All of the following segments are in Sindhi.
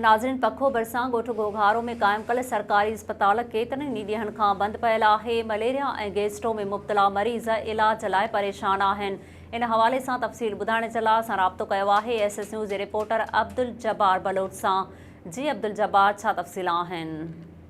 ناظرين پکو ڀرسان ڳوٺ گهوگهارو ۾ قائم ڪل سرڪاري اسپتال ڪيترن ئي ڏينهن کان بند پيل آهي مليريا ۽ گيسٽرو ۾ مبتلا مريض علاج لاء پريشان آهن ان حوالي سان تفصيل ٻڌائڻ جي لاء اسان رابطو ڪيو آهي ايس ايس نيوز جي رپورٽر عبدالجبار بلوچ سان جي عبدالجبار ڇا تفصيل آهن.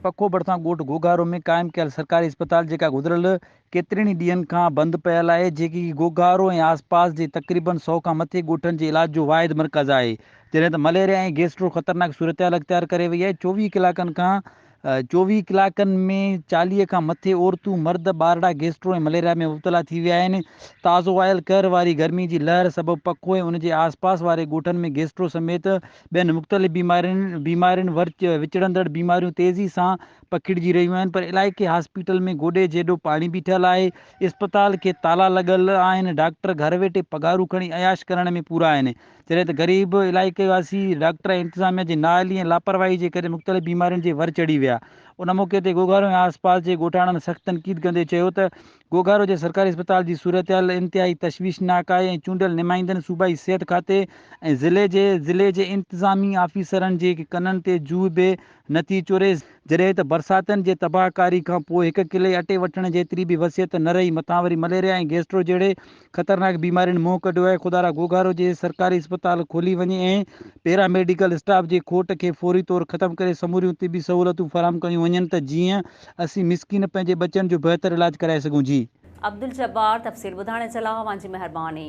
پکو ڀرسان ڳوٺ گهوگهارو ۾ قائم ڪيل سرڪاري اسپتال جيڪا گذريل ڪيترن ئي ڏينهن کان بند پيل آهي، جيڪي گوگارو ۽ آسپاس جي تقريبن سؤ کان مٿي ڳوٺن جي علاج جو واحد مرڪز آهي، جڏهن ته مليريا ۽ گيسٽرو خطرناڪ صورتحال اختيار ڪري وئي آهي، چوويهه ڪلاڪن کان چوويهه ڪلاڪن ۾ چاليهه کان مٿي عورتون، مرد، ٻارڙا گيسٽرو ۽ مليريا ۾ مبتلا ٿي ويا آهن، تازو آيل قهر واري گرمي جي لهر سبب پکو ۽ ان جي آسپاس واري ڳوٺن ۾ گيسٽرو سميت ٻين مختلف بيمارين بيمارين وچڙندڙ بيماريون تيزي سان پکڙجي رهيون آهن پر علائقي هاسپيٽل ۾ گوڏي جيڏو پاڻي بيٺل آهي، اسپتال کي تالا لڳل آهن، ڊاڪٽر گهر ويٺي پگهارون کڻي عياش ڪرڻ ۾ پورا آهن، جڏهن ته غريب علائقي واسي ڊاڪٽر ۽ انتظاميا جي نااهلي ۽ لاپرواهي جي ڪري مختلف بيمارين جي ور چڙهي ويا، ان موقعي تي گوگهارو ۽ آسپاس جي ڳوٺاڻن سخت تنقيد ڪندي چيو ته. گهوگهارو جي سرڪاري اسپتال جي صورتحال انتهائي تشويشناڪ آهي ۽ چونڊيل نمائندن صوبائي صحت کاتي ۽ ضلعي جي ضلعي جي انتظامي آفيسرن جي ڪنن تي جوء به نٿي چوري جڏهن ته برساتن جي تباهه ڪاري کانپوء هڪ ڪلي اٽي وٺڻ جيتري به وسيت نه رهي مٿان وري مليريا ۽ گيسٽرو جهڙي خطرناڪ بيمارين منهن ڪڍيو آهي، خدا را گهوگهار هجي، سرڪاري اسپتال کولي وڃي ۽ پيراميڊيڪل اسٽاف جي کوٽ کي فوري طور ختم ڪري سموريون طبي سهولتون فراهم ڪيون وڃن ته جيئن اسين مسڪين پنهنجي ٻچن جو بهتر علاج ڪرائي سگهون جي. عبدالجبار تفصيل ٻڌائڻ جي لاء اوهان جي مهرباني.